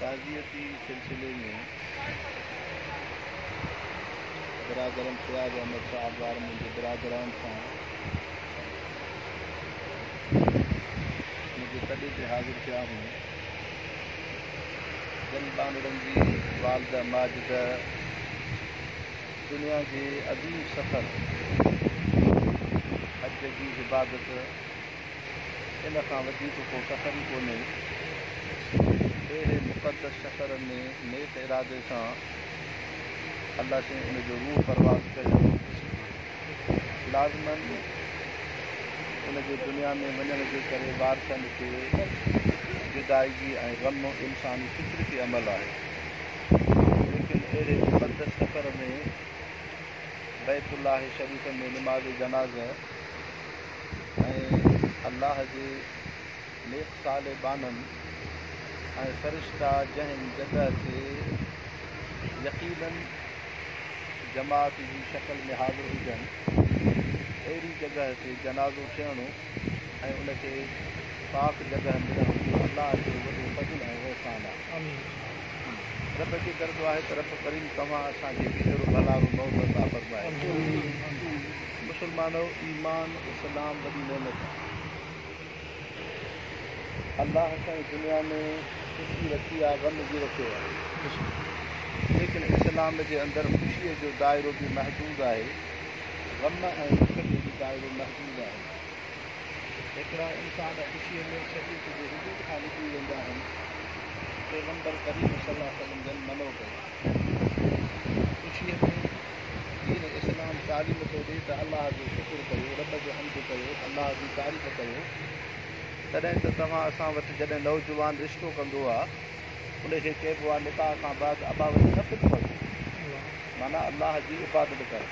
تعزيتي سلسلي ۾ برادرم فياض احمد شاهه ابڙارمل جي برادران سان منهنجي تڏي تي حاضر ٿيا هون، جن ٻانهڙن جي والده ماجده دنيا جي عظيم سفر حج جي عبادت، ان کان وڌيڪ ڪو سفر ئي ڪونهي. اهڙي مقدس سفر ۾ نيڪ ارادي سان الله سين ان جو روح پرواز ڪيو. لازماً ان جي دنيا ۾ وڃڻ جي ڪري وارثن کي جدائگي ۽ غم انساني فطرتي عمل آهي. ليڪن اهڙي مقدس سفر ۾ بيت الله شريف ۾ نماز جنازه، ۽ الله جي نيڪ صالح ٻانهن ۽ فرشتا جنهن جڳهه تي يقيناً جماعت جي شڪل ۾ حاضر هجن اهڙي جڳهه تي جنازو ٺهڻو ۽ ان کي پاڪ جڳهه ۾ رهڻو الله جو وڏو فضل ۽ احسان آهي. رب کي گهر دعا آهي ته رب ڪريم توهان اسان کي به اهڙو ڀلارو موت عطا فرمائي. مسلمانؤ! ايمان، اسلام، وڏي نعمت آهي. الله سائين دنيا ۾ خوشي رکي آهي، غم به رکيو آهي. ليڪن اسلام جي اندر خوشيء جو دائرو به محدود آهي، غم ۽ ڏک جو به دائرو محدود آهي. هڪڙا انسان خوشيء ۾ شريعت جي حدود کان نڪري ويندا آهن. پيغمبر ڪريم صلعم جن منع ڪيو آهي خوشيء ۾ دين اسلام تعليم ٿو ڏي ته الله جو شڪر ڪيو، رب جو حمد ڪيو، الله جي تعريف ڪيو، تڏهن ته توهان اسان وٽ جڏهن نوجوان رشتو ڪندو آ ان کي چئبو آ نڪاح کان بعد ابا وٽ نه پٽ وٺ معنيٰ الله جي عبادت ڪر.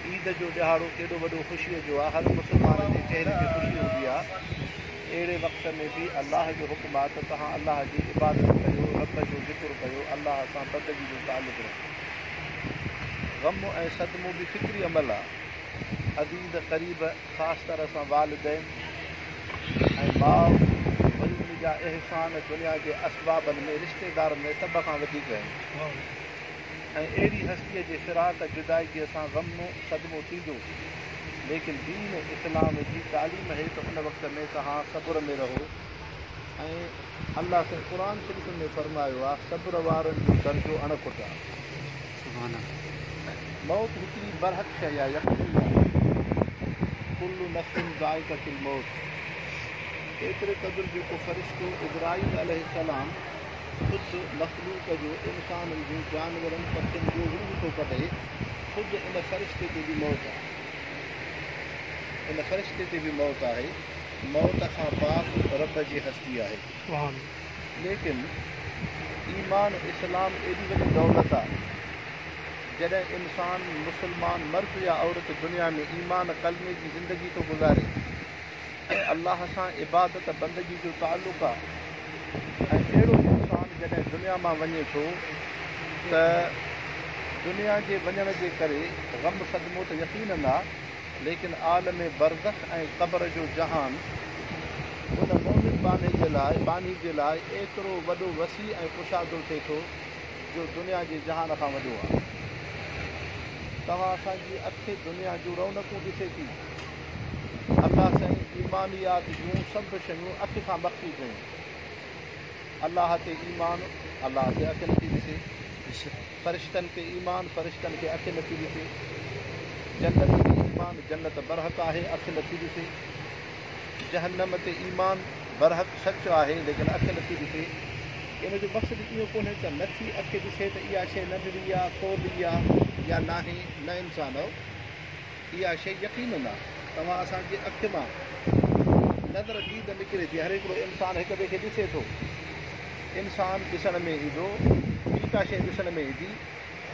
عيد جو ڏهاڙو ڪيڏو وڏو خوشيء جو آ هر مسلمان جي چهري تي خوشي هوندي آ اهڙي وقت ۾ به الله جو حڪم آ ته توهان الله جي عبادت ڪيو، رب جو ذڪر ڪيو، الله سان بندگي جو تعلق رکو. غم ۽ صدمو به فطري عمل آ. عزيز قريب خاص طرح سان والدين ۽ ماء وري ان جا احسان دنيا جي اسبابن ۾ رشتيدارن ۾ سڀ کان وڌيڪ آهن ۽ اهڙي هستي جي فراق جدائگي سان غم صدمو ٿيندو ليڪن دين اسلام جي تعليم هي ته ان وقت ۾ توهان صبر ۾ رهو ۽ الله سائين قرآن شريف ۾ فرمايو آ صبر وارن جو درجو اڻ کٽ آ. موت هڪڙي برحق شيء آ يقيني آ ڪل نفس ذائقة الموت ايتري قدر جو ڪو فرشتو عزرائيل عليه السلام خود مخلوق جو انسانن جو جانورن پکين جو روح ٿو ڪڍي خود ان فرشتي تي به موت آ ان فرشتي تي به موت آهي. موت کان پاڪ رب جي هستي آهي ليڪن ايمان اسلام ايڏي وڏي دولت آ جڏهن انسان مسلمان مرد يا عورت دنيا ۾ ايمان ڪلمي جي زندگي ٿو گذاري ۽ الله سان عبادت بندگي جو تعلق آ ۽ اهڙو انسان جڏهن دنيا مان وڃي ٿو ته دنيا جي وڃڻ جي ڪري غم صدمو ته يقينن آ ليڪن عالم برزخ ۽ قبر جو جهان ان مؤمن باني جي لاء باني جي لاء ايترو وڏو وسيع ۽ ڪشادو ٿئي ٿو جو دنيا جي جهان کان وڏو آهي. توهان اسان جي اک دنيا جون رونقون ڏسي ٿي. الله سائين ايمانيات جون سڀ شيون اک کان مخفي ڪيون. الله تي ايمان الله تي اک نٿي ڏسي. فرشتن تي ايمان، فرشتن کي اک نٿي ڏسي. جنت تي ايمان، جنت برحق آهي، اک نٿي ڏسي. جهنم تي ايمان، برحق سچ آهي، ليڪن اک نٿي ڏسي. ان جو مقصد اهو ڪونهي ته نٿي اک ڏسي ته اها شيء ننڍڙي آ، ڪولهي آ يا ناهي، نه انسان او. اها شيء يقينن آ توهان اسان جي اکين مان نظر ديد نڪري ٿي، هر هڪڙو انسان هڪ ٻئي کي ڏسي ٿو، انسان ڏسڻ ۾ ايندو، ٻي ڪا شيء ڏسڻ ۾ ايندي،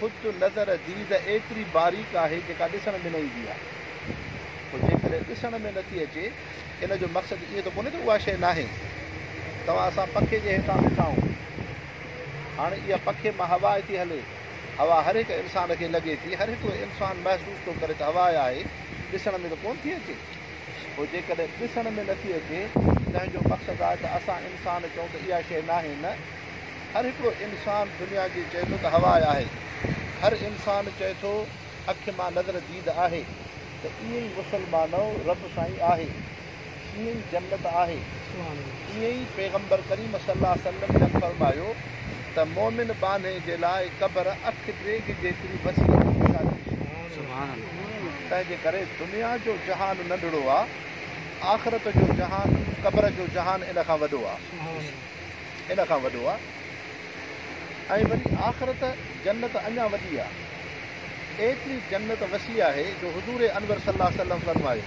خود نظر ديد ايتري باريڪ آهي جيڪا ڏسڻ ۾ نه ايندي آ، پوء جيڪڏهن ڏسڻ ۾ نٿي اچي ان جو مقصد ائين ته ڪونهي ته اها شيء ناهي، توهان اسان پکي جي هيٺان ويٺا آهون، هاڻي اها پکي مان هوا اٿي هلي، هوا هر هڪ انسان کي لڳي ٿي، هر هڪڙو انسان محسوس ٿو ڪري ته هوا آهي، ڏسڻ ۾ ته ڪونه ٿي اچي. پوء جيڪڏهن ڏسڻ ۾ نٿي اچي، تنهن جو مقصد آهي ته اسان انسان چئون ته اها شيء ناهي؟ نه، هر هڪڙو انسان دنيا جي چئي ٿو ته هوا آهي. هر انسان چئي ٿو اک مان نظر ديد آهي ته ايئن ئي مسلمانؤ رب سائين آهي. ڪيئن ئي جنت آهي تيئن ئي پيغمبر ڪريم صلي الله وسلم جن فرمايو ته مؤمن ٻانهي جي لاء قبر اک ڊيگهه جيتري وسيع ۽ وشالي هوندي آهي تنهنجي ڪري دنيا جو جهان ننڍڙو آ آخرت جو جهان قبر جو جهان ان کان وڏو آ ان کان وڏو آ ۽ وري آخرت جنت اڃا وڏي آ ايتري جنت وسيع آهي جو حضور انور صلي الله وسلم فرمايو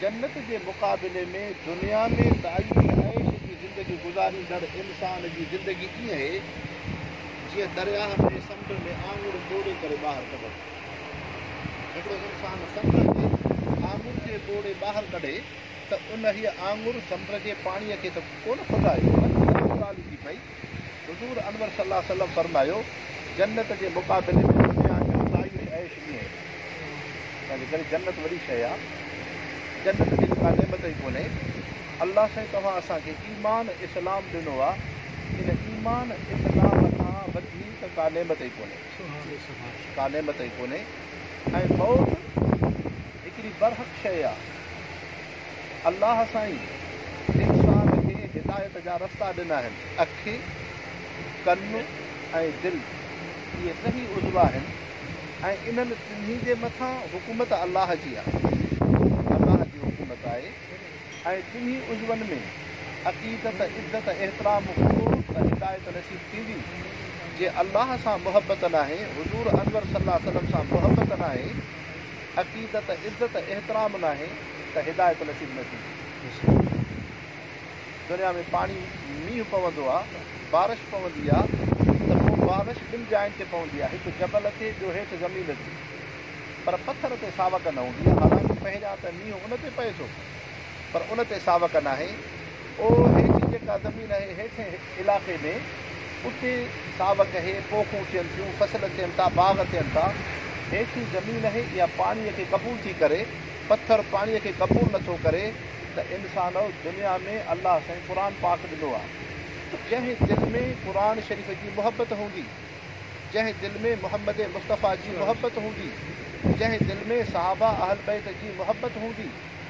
جنت جي مقابلي ۾ دنيا ۾ دائمي عيش جي زندگي گذاريندڙ انسان جي زندگي ائين اهي جيئن درياهه ۾ سمنڊ ۾ آڱر ٻوڙي ڪري ٻاهر ڪڍڻ. هڪڙو انسان سمنڊ ۾ آڱر جي ٻوڙي ٻاهر ڪڍي ته انهيء آڱر سمنڊ جي پاڻيء کي ته ڪونه ڦٽائي پر اها ڳالهه ٿي پئي حضور انور صلي الله عليه وسلم فرمايو، جنت جي مقابلي ۾ دنيا جا سايش عيش ائين آهن. ان جي ڪري جنت وڏي شيء آهي. جنت جهڙي ڪا نعمت ئي ڪونهي. الله سائين توهان اسان کي ايمان اسلام ڏنو آهي. ان ايمان اسلام کان وڌيڪ ڪا نعمت ئي ڪونهي. ڪا نعمت ئي ڪونهي ۽ موت هڪڙي برحق شيء آهي. الله سائين انسان کي هدايت جا رستا ڏنا آهن، اکي، ڪن ۽ دل اهي ٽنهي عضوا آهن ۽ انهن ٽنهي جي مٿان حڪومت الله جي آهي، دين الله جي حڪومت آهي ۽ ٽنهي عضون ۾ عقيدت، عدت، احترام هوندو ته هدايت نصيب ٿيندي، جي الله سان محبت ناهي، حضور انور صلعم سان محبت ناهي، عقيدت، عزت ۽ احترام ناهي ته هدايت نصيب نه ٿيندي. دنيا ۾ پاڻي، مينهن، پوندو آ، بارش پوندي آ ته پوء بارش ٻن جاين تي پوندي آ، هڪ جبل تي ٻيو هيٺ زمين تي. پر پٿر تي ساوڪ نه هوندي آ، حالانڪ پهريان ته مينهن ان تي پئي ٿو. پر ان تي ساوڪ ناهي. او هيٺ جيڪا زمين اهي هيٺين علائقي ۾، اتي ساوڪ اهي، پوکون ٿين ٿيون، فصل ٿين ٿا، باغ ٿين ٿا. هيٺين زمين اهي اها پاڻيء کي قبول ٿي ڪري، پٿر پاڻيء کي قبول نه ٿو ڪري ته انسان دنيا ۾ الله سائين قرآن پاڪ ڏنو آ. جنهن دل ۾ قرآن شريف جي محبت هوندي، جنهن دل ۾ محمد مصطفيٰ جي محبت هوندي، جنهن دل ۾ صحابه اهل بيت جي محبت هوندي،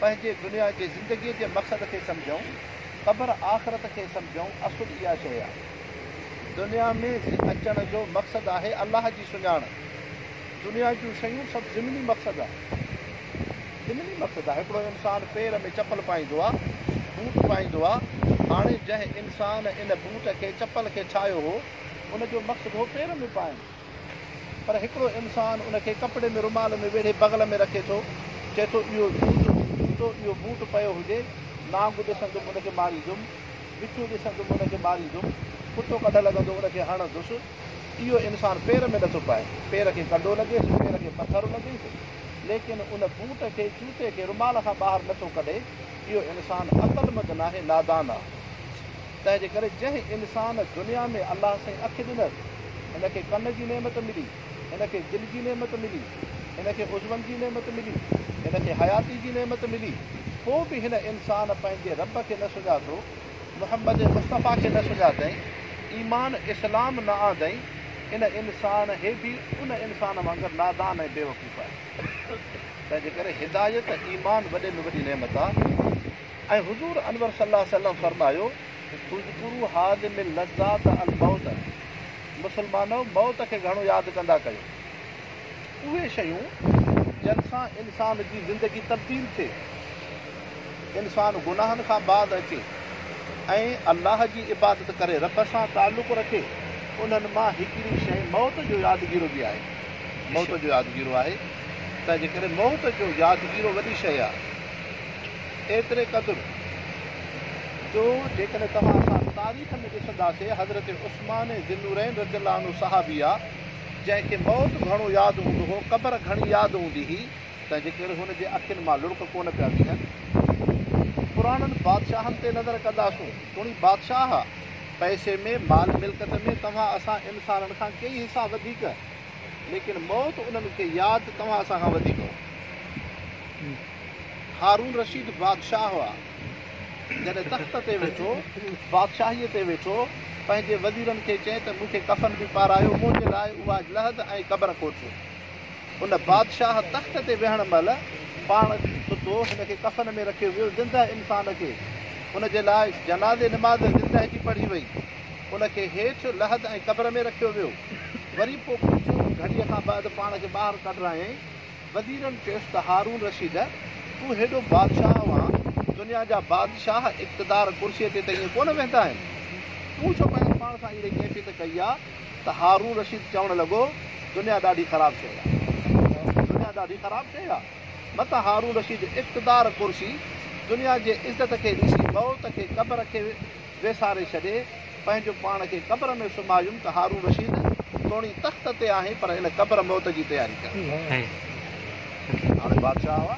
پنهنجي دنيا جي زندگيء جي مقصد کي سمجهون، قبر آخرت کي سمجهون اصل اها شيء آهي. دنيا ۾ اچڻ جو مقصد آهي الله جي سڃاڻپ. دنيا جون شيون سڀ ضمني مقصد آهن. ضمني مقصد آهي. هڪڙو انسان پير ۾ چپل پائيندو آهي، بوٽ پائيندو آهي. هاڻي جنهن انسان ان بوٽ کي، چپل کي ٺاهيو هو، ان جو مقصد هو پير ۾ پائڻ. پر هڪڙو انسان ان کي ڪپڙي ۾ رومال ۾ ويڙهي بغل ۾ رکي ٿو، چئي ٿو اهو جوتو، جوتو، اهو بوٽ پيو هجي، نانگ ڏسندم ان کي ماريندم، وڇو ڏسندم ان کي ماريندم، ڪتو ڪڍ لڳندو ان کي هڻندس، اهو انسان پير ۾ نٿو پائي، پير کي ڪنڊو لڳيس، پير کي پٿر لڳيس، ليڪن ان بوٽ کي، جوتي کي رومال کان ٻاهر نٿو ڪڍي، اهو انسان عقلمند ناهي، نادان آ. تنهن جي ڪري جنهن انسان دنيا ۾ الله سائين اک ڏنس، هن کي ڪن جي نعمت ملي، هن کي دل جي نعمت ملي، هن کي عضون جي نعمت ملي، هن کي حياتي جي نعمت ملي، پوء به هن انسان پنهنجي رب کي نه سڃاتو، محمد مصطفيٰ کي نه سڃاتئين، ايمان اسلام نه آندئين، ان انسان هي به ان انسان وانگر نادان ۽ بيوقوف آهي. تنهن جي ڪري هدايت، ايمان وڏي ۾ وڏي نعمت آهي. ۽ حضور انور صلي الله عليه وسلم فرمايو، اذڪرو هاذم اللذات الموت مسلمانؤ! موت کي گهڻو ياد ڪندا ڪيو. اهي شيون جن سان انسان جي زندگي تبديل ٿئي، انسان گناهن کان باز اچي ۽ الله جي عبادت ڪري رب سان تعلق رکي، انهن مان هڪڙي شيء موت جو يادگيرو به آهي. موت جو يادگيرو آهي، تنهن جي ڪري موت جو يادگيرو وڏي شيء آهي. ايتري قدر جو جيڪڏهن توهان اسان تاريخ ۾ ڏسنداسين حضرت عثمان ذي النورين رضي الله عنه صحابي آ جنهن کي موت گهڻو ياد هوندو هو قبر گهڻي ياد هوندي هئي تنهنجي ڪري هن جي اکين مان لڙڪ ڪونه پيا بيهن پراڻن بادشاهن تي نظر ڪنداسون تڻي بادشاهه پئسي ۾ مال ملڪت ۾ توهان اسان انسانن کان ڪيئي حصا وڌيڪ ليڪن موت انهن کي ياد توهان اسان کان وڌيڪ هو. هارون رشيد بادشاهه هئا. جڏهن تخت تي ويٺو، بادشاهيء تي ويٺو، پنهنجي وزيرن کي چئي ته مون کي ڪفن به پارايو، منهنجي لاء اها لحد ۽ قبر کوٽيو. ان بادشاهه تخت تي ويهڻ مهل پاڻ ستو، هن کي ڪفن ۾ رکيو ويو، زندهه انسان کي هن جي لاء جنازي نماز زندهه جي پڙهي وئي، ان کي هيٺ لحد ۽ قبر ۾ رکيو ويو، وري پوء ڪجهه گهڙيء کان بعد پاڻ کي ٻاهر ڪڍرايائين. وزيرن چيس ته هارون رشيد! تون هيڏو بادشاهه وان دنيا جا بادشاهه اقتدار ڪرسيء تي ته ائين ڪونه ويهندا آهن. تون ڇو پنهنجي پاڻ سان اهڙي ڪيفيت ڪئي آ ته هارون رشيد چوڻ لڳو، دنيا ڏاڍي خراب شيء آ. دنيا ڏاڍي خراب شيء آ. متان هارون رشيد اقتدار ڪرسي دنيا جي عزت کي ڏسي مئوت کي قبر کي ويساري ڇڏي، پنهنجو پاڻ کي قبر ۾ سمهايم ته هارون رشيد توڻي تخت تي آهين پر ان قبر موت جي تياري ڪر. هاڻي بادشاهه هئا،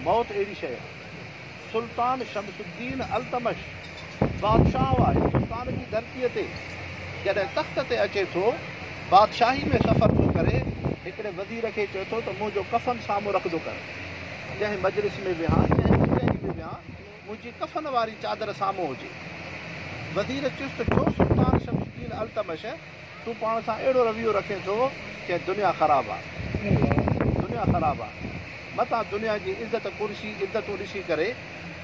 موت اهڙي شيء آهي. سلطان شمس الدين التمش بادشاهه هئا، هندستان جي ڌرتيء تي جڏهن تخت تي اچي ٿو، بادشاهي ۾ سفر ٿو ڪري، هڪڙي وزير کي چئي ٿو ته منهنجو ڪفن سامهون رکندو ڪر، جنهن مجلس ۾ ويهان، جنهن ڪچهري ۾ ويهان، منهنجي ڪفن واري چادر سامهون هجي. وزير چست چيو، سلطان شمس الدين التمش، تون پاڻ سان اهڙو رويو رکين ٿو جئين دنيا خراب آ. دنيا خراب آ. متان دنيا جي عزت ڪرسي عدتون ڏسي ڪري،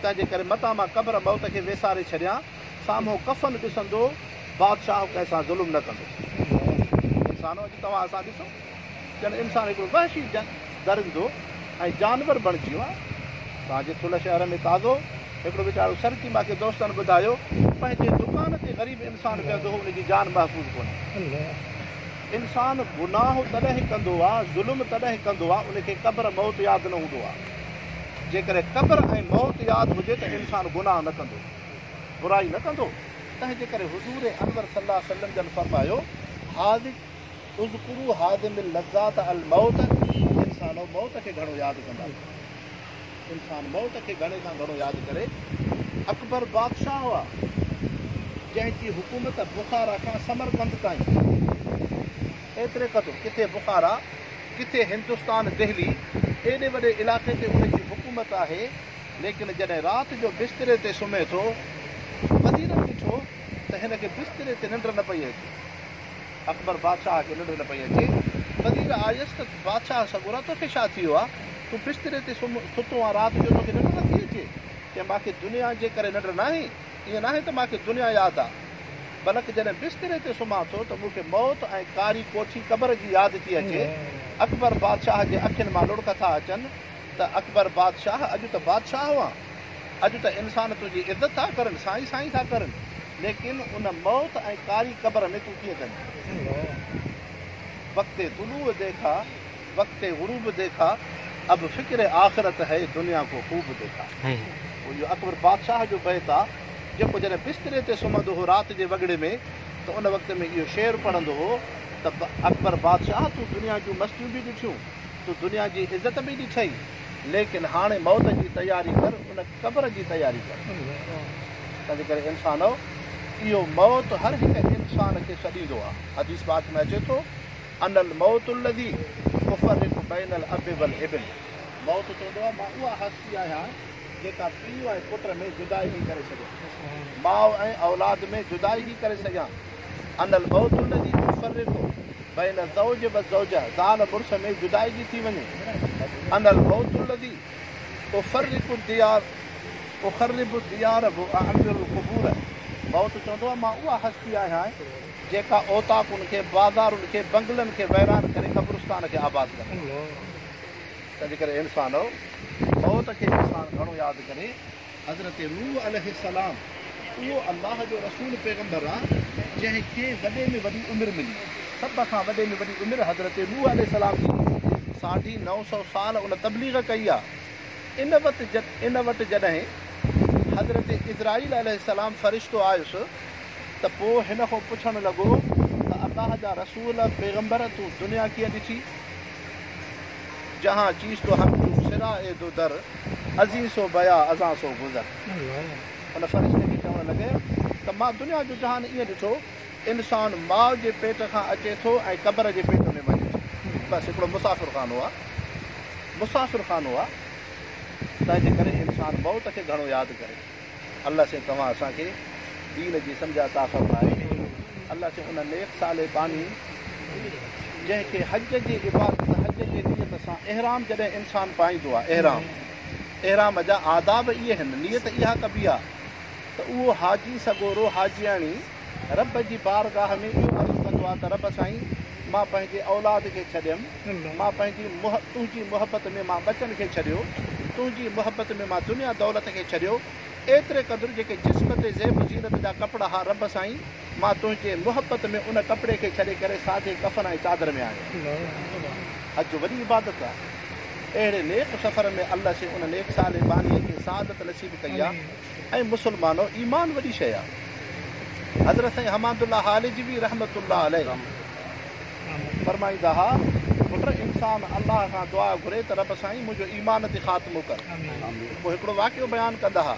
تنهنجي ڪري متان مان قبر موت کي ويساري ڇڏيان، سامهون ڪفن ڏسندو، بادشاهه ڪنهن سان ظلم نه ڪندو. انسانو اڄ توهان اسان ڏسو. ڄڻ انسان هڪڙو وحشي درندو ۽ جانور بڻجي ويو آهي. اسان جي ٿلهه شهر ۾ تازو هڪڙو ويچارو سرڪي ماکي دوستن ٻڌايو پنهنجي دڪان تي غريب انسان ويهندو هو ان جي جان محفوظ ڪونهي. انسان گناهه تڏهن ڪندو آهي ظلم تڏهن ڪندو آهي ان کي قبر موت ياد نه هوندو آهي. جيڪڏهن قبر ۽ موت ياد هجي ته انسان گناهه نه ڪندو برائي نه ڪندو تنهنجي ڪري حضور انور صلي الله عليه وسلم جن فرمايو حاذق اذڪروا هاضم اللذات الموت انسانو موت کي گهڻو ياد ڪندا ڪيو انسان موت کي گهڻي کان گهڻو ياد ڪري اڪبر بادشاهه هئا جنهن جي حڪومت بخارا کان سمرقند تائين ايتري قدر ڪٿي بخارا ڪٿي هندستان دهلي ايڏي وڏي علائقي تي ان جي حڪومت آهي ليڪن جڏهن رات جو بستري تي سمهي ٿو وزير ڏٺو ته هن کي بستري تي ننڊ نه پئي اچي اڪبر بادشاهه کي ننڊ نه پئي اچي. وزير آيس ته بادشاهه سڳورا توکي ڇا ٿي ويو آ؟ تون بستري تي سم ستو آن رات جو توکي ننڊ نه ٿي اچي؟ چيائين ماکي دنيا جي ڪري ننڊ ناهي، ائين ناهي ته ماکي دنيا ياد آ، بلڪ جڏهن بستري تي سمهان ٿو ته مونکي موت ۽ ڪاري ڪوٺي قبر جي ياد ٿي اچي. اڪبر بادشاهه جي اکين مان لڙڪ ٿا اچن. ته اڪبر بادشاهه اڄ ته بادشاهه هئان، اڄ ته انسان تنهنجي عزت ٿا ڪرن، سائين سائين ٿا ڪرن، ليڪن ان موت ۽ ڪاري قبر ۾ تون ڪيئن ڪندين؟ وقت طلوع ديکا، وقت غروب ديکا، اب فڪر آخرت هي، دنيا ڪو خوب ديکا. اهو اڪبر بادشاهه جو بيت آ، جيڪو جڏهن بستري تي سمهندو هو رات جي وڳڙي ۾ ته ان وقت ۾ اهو شعر پڙهندو هو ته اڪبر بادشاهه تون دنيا جون مستيون به ڏٺيون، تو دنيا جي عزت به ڏٺئي ليڪن هاڻي موت جي تياري ڪر ان قبر جي تياري ڪر تنهنجي ڪري انسانؤ اهو موت هر هڪ انسان کي سڏيندو آهي حديث پاڪ ۾ اچي ٿو ان الموت الذي يفرق بين الاب والابن موت چوندو آهي مان اها هستي آهيان جيڪا پيء ۽ پٽ ۾ جدائي ٿي ڪري سگهيان ماء ۽ اولاد ۾ جدائي ٿي ڪري سگهيان ان الموت الذي يفرق بين الزوج والزوجه، زال مڙس ۾ جدائگي ٿي وڃي، انا الموت الذي اخرب الديار اخرب الديار واعمر القبور، موت چوندو آهي مان اها هستي آهيان جيڪا اوطاقن کي، بازارن کي، بنگلن کي ويران ڪري قبرستان کي آباد ڪندو آهيان. تنهنجي ڪري اي انسانؤ! موت کي انسان گهڻو ياد ڪري. حضرت نوح عليه السلام اهو الله جو رسول پيغمبر آ جنهن کي وڏي ۾ وڏي عمر ملي. سڀ کان وڏي ۾ وڏي عمر حضرت نوح عليه السلام جي ساڍي نو سؤ سال ان تبليغ ڪئي آ. ان وت ان وٽ جڏهن حضرت عزرائيل عليه السلام فرشتو آيس ته پوء هن کون پڇڻ لڳو ته الله جا رسول پيغمبر تون دنيا ڪيئن ڏٺي؟ جهان چيس تو حق جون سرا اي دو در، ازين سو بيا ازان سو گذر. ان فرشتي کي چوڻ لڳي ته مان دنيا جو جهان ائين ڏٺو، انسان ماء جي پيٽ کان اچي ٿو ۽ قبر جي پيٽ ۾ وڃي ٿو. بس هڪڙو مسافر خانو آ. مسافر خانو آ. تنهن جي ڪري انسان موت کي گهڻو ياد ڪري. الله سين توهان اسان کي دين جي سمجهه عطا فرمائي الله سين ان نيڪ صالح باني جنهن کي حج جي عبادت حج جي نيت سان احرام جڏهن انسان پائيندو آهي احرام احرام جا آداب اهي هن نيت اها ڪبي آهي ته اهو حاجي سڳورو حاجياڻي رب جي بارگاھ ۾ اهو عرض ڪندو آهي ته رب سائين مان پنهنجي اولاد کي ڇڏيم، مان پنهنجي تنهنجي محبت ۾ مان ٻچن کي ڇڏيو، تنهنجي محبت ۾ مان دنيا دولت کي ڇڏيو، ايتري قدر جيڪي جسم تي زيب و زينت جا ڪپڙا ها رب سائين مان تنهنجي محبت ۾ ان ڪپڙي کي ڇڏي ڪري سادي ڪفن ۽ چادر ۾ آيم. حج وڏي عبادت آهي. اهڙي نيڪ سفر ۾ الله سين ان نيڪ صالح باني کي سعادت نصيب ڪئي آهي. اي مسلمانو! ايمان وڏي شيء آهي. حضرت سائين حماد الله هالجوي رحمة الله عليه فرمائيندا ها، پٽ! انسان الله کان دعا گهري ته رب سائين منهنجو ايمان تي خاتمو ڪر. پوء هڪڙو واقعو بيان ڪندا ها.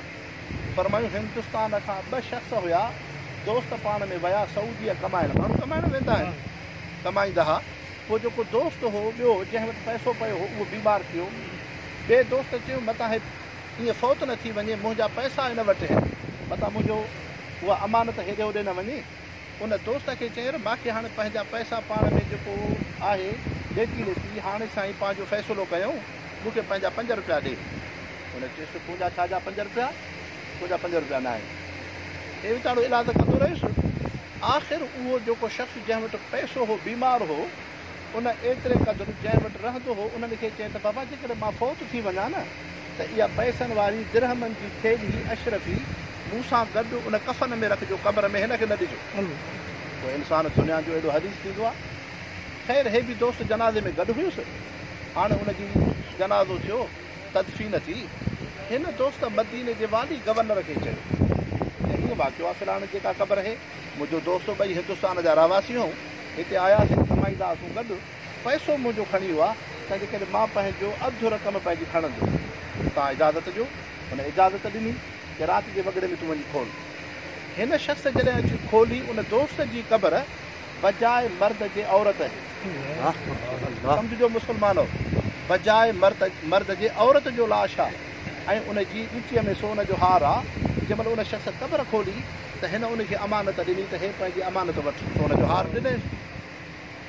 فرمايون، هندستان کان ٻه شخص هيا، دوست پاڻ ۾ ويا سعوديء ڪمائڻ. ماڻهو ڪمائڻ ويندا آهن. ڪمائيندا ها. پوء جيڪو دوست هو ٻيو جنهن وٽ پئسو پيو هو اهو بيمار ٿيو. ٻئي دوست چيو متان هي. ائين فوت نه ٿي وڃي، منهنجا پئسا هن وٽ آهن، متان منهنجو اها امانت هيڏي هوڏي نه وڃي. ان دوست کي چير، ماکي هاڻي پنهنجا پئسا پاڻ ۾ جيڪو آهي ليٽي ليٽي هاڻي سائين پنهنجو فيصلو ڪيائون، مون کي پنهنجا پنج روپيا ڏي. هن چيس ته تنهنجا ڇا جا پنج روپيا، تنهنجا پنج روپيا نه آهن. ائين ويچارو ايلاز ڪندو رهيس. آخر اهو جيڪو شخص جنهن وٽ پئسو هو بيمار هو. ان ايتري قدر جنهن وٽ رهندو هو، انهن کي چئي ته بابا جيڪڏهن مان فوت ٿي وڃان نه ته اها پئسن واري درهمن جي ٿيلهي، اشرفي، مون سان گڏ ان ڪفن ۾ رکجو، قبر ۾ هن کي نه ڏجو. پوء انسان دنيا جو اهڙو حريص ٿيندو آهي. خير هي به دوست جنازي ۾ گڏ هيس. هاڻي ان جي جنازو ٿيو، تدفين ٿي. هن دوست مديني جي والي گورنر کي چيو ته هيء واقعو آهي فلاڻي جيڪا قبر هي، منهنجو دوست ٻئي هندستان جا رهواسي هئون، هتي آيا ته ڪمائيندا اسون گڏ، پئسو منهنجو ڪھڻي اھو آ، تنهنجي ڪري مان پنهنجو اڌ رقم پنهنجي کڻندس، توهان اجازت ڏيو. هن اجازت ڏني ته رات جي وڳڙي ۾ تون وڃي کول. هن شخص جڏهن اچي کولي، ان دوست جي قبر بجاء مرد جي عورت اھي. سمجهجو مسلمانؤ! بجاء مرد جي عورت جو لاش آ. ۽ ان جي ڳچيء ۾ سون جو هار آ. جنهن مهل ان شخص قبر کولي ته هن ان کي امانت ڏني ته هي پنهنجي امانت وٺ. سون جو هار ڏنس.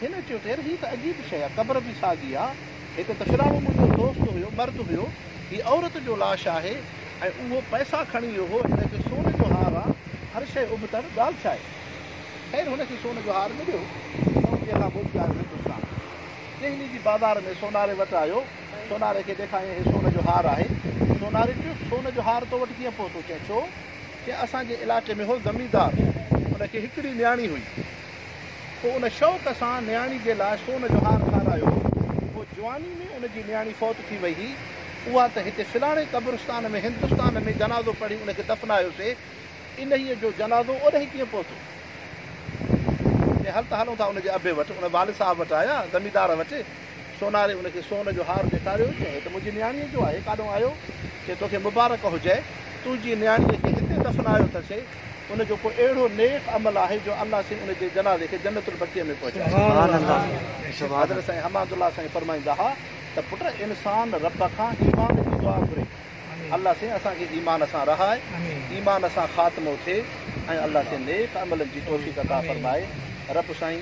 هن چيو ته يار هي ته عجيب شيء آ. قبر به ساڳي آ. هڪ ڪفراڻو منهنجو دوست هيو، مرد هيو. هي عورت جو لاش آهي ۽ اهو پئسا کڻي ويو هو. هن کي سون جو هار آ. هر شيء ابتڙ، ڳالهه ڇا آهي؟ خير هن کي سون جو هار مليو. سون جي کان موٽي آيو هندستان. دهلي جي بازار ۾ سوناري وٽ آيو. سوناري کي ڏيکاريائين هي سون جو هار آهي. سوناري چيو، سون جو هار تو وٽ ڪيئن پهتو؟ چيائين ڇو؟ چيائين اسان جي علائقي ۾ هو زميندار، ان کي هڪڙي نياڻي هئي، پوء ان شوق سان نياڻي جي لاء سون جو هار ٺارايو هو، پوء جواني ۾ ان جي نياڻي فوت ٿي وئي هي، اها ته هتي فلاڻي قبرستان ۾ هندستان ۾ جنازو پڙهي ان کي دفنايوسي، انهيء جو جنازو اوڏهين ڪيئن پهتو؟ چيائين هل ته هلون ٿا ان جي ابي وٽ، ان والد صاحب وٽ آيا، زميندار وٽ، سوناري ان کي سون جو هار ڏيکاريو، چيائين، هي ته منهنجي نياڻيء جو آهي، ڪاڏهون آيو؟ چيائين، توکي مبارڪ هجي، تنهنجي نياڻيء کي هتي دفنايو اٿسي، ان جو ڪو اهڙو نيڪ عمل آهي جو الله سائين ان جي جنازي کي جنت البقيع ۾ پهچايو. حضرت سائين حماد الله سائين فرمائيندا ها ته پٽ انسان رب کان ايمان جي دعا گهري، الله سائين اسان کي ايمان سان رهاء، ايمان سان خاتمو ٿئي ۽ الله سائين نيڪ عملن جي توفيق عطا فرمائي، رب سائين.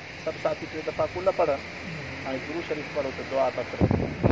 سڀ ساٿي ٽي دفعا قل پڙهه ۽ درود شريف پڙهو ته دعا ترت رهندي